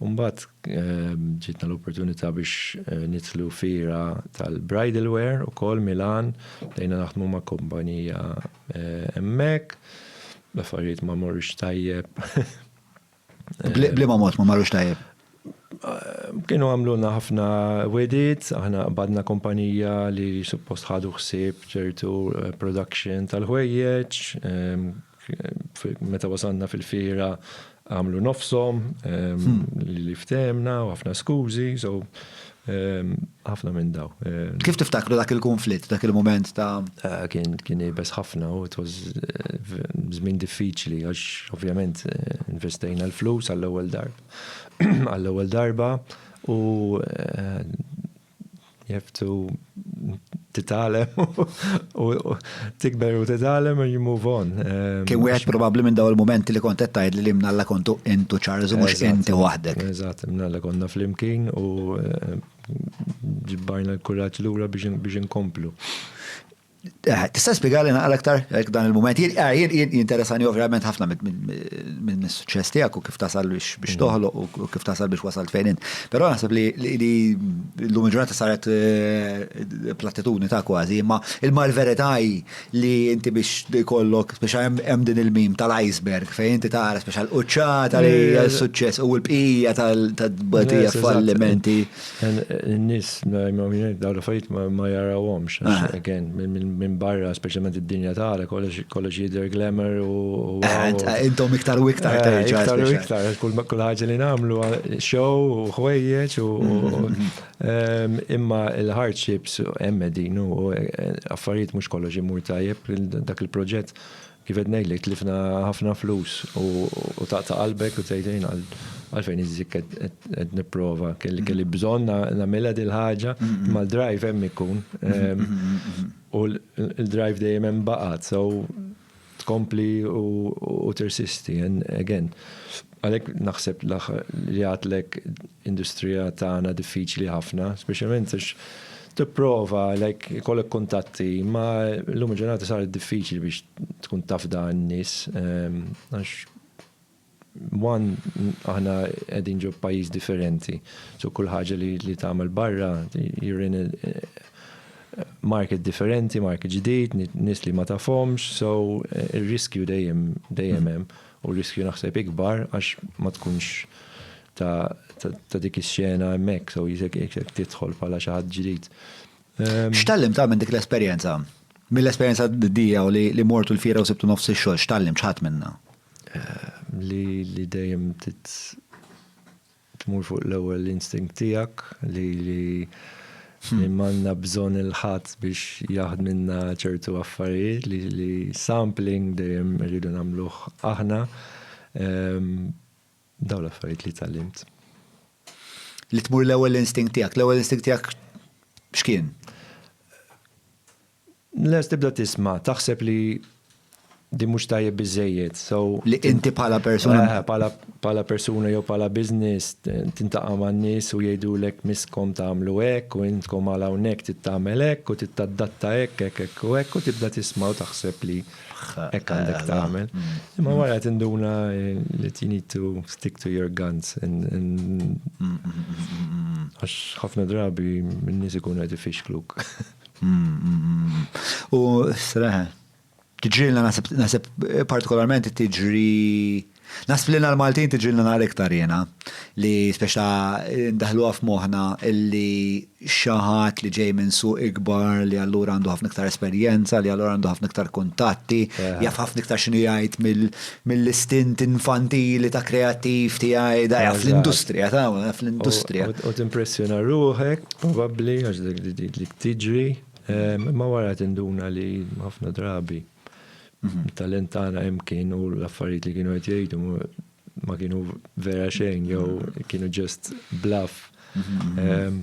U mbagħad ġietna l-opportunità biex nidħlu fira tal-bridal wear ukoll Milan, bdejna naħdmu ma' kumpanija hemmhekk, l-affarijiet ma morrux tajjeb. B'liema mod ma marrux tajjeb? Kienu għamlulna ħafna wegħdiet, aħna qbadna kumpanija li suppost ħadu ħsieb ċertu production tal-ħwejjeġ, Meta wasalna fil-fiera għamlu nofshom li ftehemna u ħafna skużi, so ħafna minn daw. Kif tiftakru dak il-kunflitt, dak il-mument ta'? Kien iebes ħafna u it was żmien diffiċli għax ovvjament investejna l-flus għall-ewwel darba għall-ewwel darba u you have to titalem u tikber u titalem and you move on. Um, Kien wieħed probabbli minn daw il-momenti li kont qed tgħid li mnalla kontu intu Charles u mhux inti waħdek. Eżatt, mnalla konna flimkien u eh, ġibbajna l-kuraġġ lura biex inkomplu. Eh, tista' spjegali naqra aktar jekk dan il-mument. Ah, jinteressani ovvjament ħafna minn suċċess tiegħek u kif tasal biex mm. toħloq u kif tasal biex wasalt fejn int. Però naħseb li l-lum ġurnata saret eh, platitudni ta' kważi, imma il-mar verità li inti biex kollok biex hemm din il-mim tal-iceberg fejn inti tara speċa l-quċċata li suċċess u l-bqija tal-batija fallimenti. N-nis, daw l-affarijiet ma jarawhomx, again, minn barra, specialment id-dinja tagħna, kollox jidher glamour u. Intom iktar u iktar terġa'. Iktar u iktar, kull ħaġa li nagħmlu, show u ħwejjeġ u. Imma l-hardships hemm qegħdin u affarijiet mhux kollox imur tajjeb, dak il-proġett Kif qed ngħidlek tlifna ħafna flus u taqta' qalbek u tgħid jien għalfejn iżżik qed nipprova kelli bżonn nagħmilha dil-ħaġa imma l-drive hemm ikun u l-drive dejjem hemm baqgħet so tkompli u tirsisti and again Għalhekk naħseb li għadlek industrija tagħna diffiċli ħafna, speċjalment għax tipprova like ikollok kuntatti, imma llum il-ġurnata saret diffiċli biex tkun tafda n-nies. Għax one aħna qegħdin ġo pajjiż differenti, so kull ħaġa li tagħmel barra you're in a market differenti, market ġdid, nies li ma tafhomx, so ir-riskju dejjem hemm. U r-riskju naħseb ikbar għax ma tkunx ta' dik ix-xena hemmhekk, so jekk tidħol bħala xi ħadd ġdid. Ehm, x'tallim ta' minn dik l-esperjenza? Mill-esperjenza d-dija u li mortu l-fira u sibtu nofs ix-xogħol, x'tallim ċħat minna? Ehm, li dejjem Tmur fuq l-ewwel instinct tiegħek li li m'għandna bżonn il-ħadd biex jaħdmilna ċertu affarijiet li sampling dejjem irridu nagħmluh aħna. Dawn l-affarijiet li tgħallimt. Li tmur l-ewwel instinct tiegħek. L-ewwel instinct tiegħek x'kien? Les tibda tisma, taħseb li din mhux tajjeb biżżejjed. So, li inti bħala persuna. Eh, bħala bħala persuna jew bħala business tintaqa' man-nies u jgħidulek miskom tagħmlu hekk u intkom għal hawnhekk tittamel hekk u tittadatta hekk hekk hekk u hekk u tibda tisma' u taħseb li hekk għandek tagħmel. Imma wara tinduna li you need to stick to your guns għax ħafna drabi min-nies ikunu qed ifixkluk. U sreħ, tġilna nasib partikolarment tiġri Nasib li l-Maltin tiġilna nar iktar jena li speċa daħlu għaf moħna illi xaħat li ġej minn suq ikbar li allura għandu ħafna iktar esperjenza li allura għandu ħafna iktar kuntatti jaf ħafna iktar xinu jgħid mill-istint infantili ta' kreattiv tiegħi dajja fl-industrija tagħna, fl-industrija. U timpressjona ruħek, probabbli, għax dik tiġri, imma wara tinduna li ħafna drabi mhm. talent tagħna hemm kien u l-affarijiet li kienu qed jgħidu ma kienu vera xejn jew mhm. kienu ġest bluff. Mhm,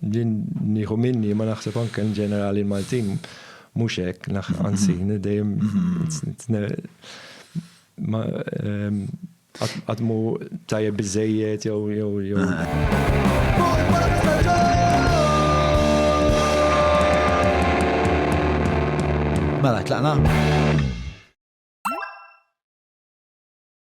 Din nieħu minni ma naħseb anke in ġenerali l-Maltin mhux hekk, anzi, dejjem għatmu ehm, tajjeb biżejjed jew jew jew. Mela, tlaqna?